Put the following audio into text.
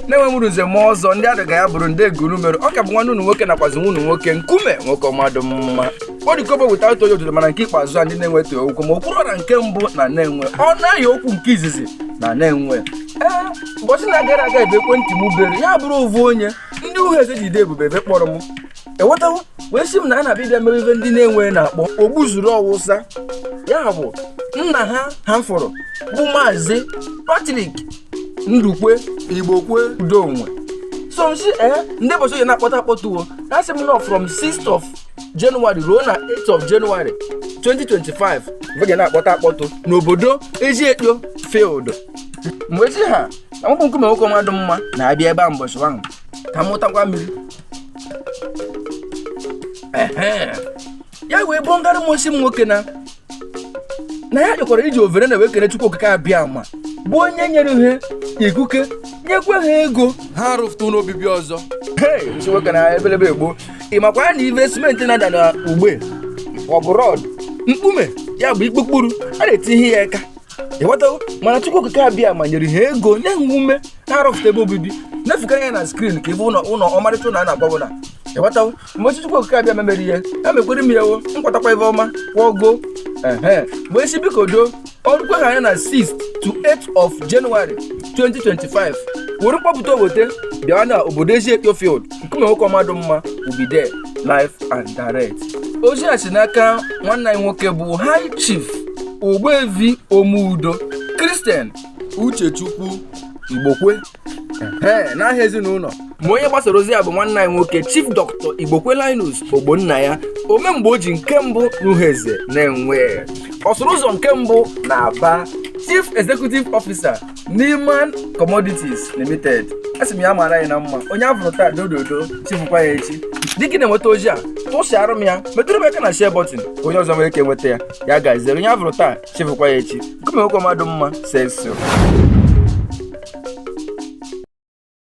Nenwe mụrụ nze ma ọzọ ndị adịga ya bụrụ ndị eguru mere ọ ka bụ nwanne unu nwoke nakwazi nwa unu nwoke nkume nwoke ọmadụ mma odikobo weta otu onye otuto mana nke ikpeazụ a ndị Nenwe ta okwu ma okwuru ọra nke mbụ na Nenwe ọ naghị okwu nke izizi na Nenwe ee ụbọchị na-agara aga ebe ekwentị m bere ya bụrụ ovu onye ndị Uhueze jide ebube ebe kpọrọ m ewetawo wee sị m na a na-abịa ịbịa mere ive ndị Nenwe na-akpọ ogbuzuru ọwụsa ya bụ nna ha ha fụrụ bụ maazị Patrick Ndukwe Igbokwe udo onwe so m sị ee ndị bọchị oyi na-akpọtụ akpọtụ wo ha sị m nọ from 6th of January ruo na 8th of January 2025 mgbe ga na-akpọtụ akpọtụ n'obodo Eziekpo field mgbe chi ha na mkpụ nkume nwoke ọmadụ mma na-abịa ebe a mbọchị ahụ ka m mụtakwa mmiri ya wee bụ ngara m ọ sị m nwoke na na ya chọkwara iji overe na wee kene chukwu okike abiama bụ onye nyere ha ikike nyekwa ha ego ha rụfụta ụlọ obibi ọzọ m sị nwoke na ebelebe egbuo ị makwa na ive simenti na-ada na ugbe ọ bụ rọd mkpume ya bụ ikpukpuru a na-etinye ya aka ịghọtago mana chukwu okike abiama nyere ha ego nye ha ume ha rụfụta ebe obibi na-afụkwara ya na skrin ka ebe ụlọ ụlọ ọmarịcha ụlọ a na-agbawo na ịghọtawo mgbe Chukwu okike abiama meere ihe ya mekwere m ya wo nkwatakwa ebe ọma kwọgo ehe mgbe isi biko do ọrụ kweghị anya na 6th to 8th of January 2025 were mkpọpụta obote bịa na obodo Eziekpo field nkume nwoke ọmadụ mma ubide live and direct ozi a si n'aka nwanne anyị nwoke bụ high chief ogbuevi omeudo Christian Uchechukwu Igbokwe ee n'aha ezinụlọ ma onye gbasara ozi ya bụ nwanne anyị nwoke Chief Dr. Igbokwe Linus Ogbonnaya ome mgbe o ji nke mbụ n'Uhueze Nenwe ọsụrụ ụzọ nke mbụ na Aba Chief Executive Officer Neiman Commodities Limited asị m ya mara anyị na mma onye a fụrụ taa dododo chi fụkwa ya echi dịka ị na-enweta ozi a tụsịara m ya metụrụ m aka na share button ka onye ọzọ nwere ike nweta ya ya gaziere onye a fụrụ taa chi fụkwa ya echi nkume nwoke ọmadụ mma sexy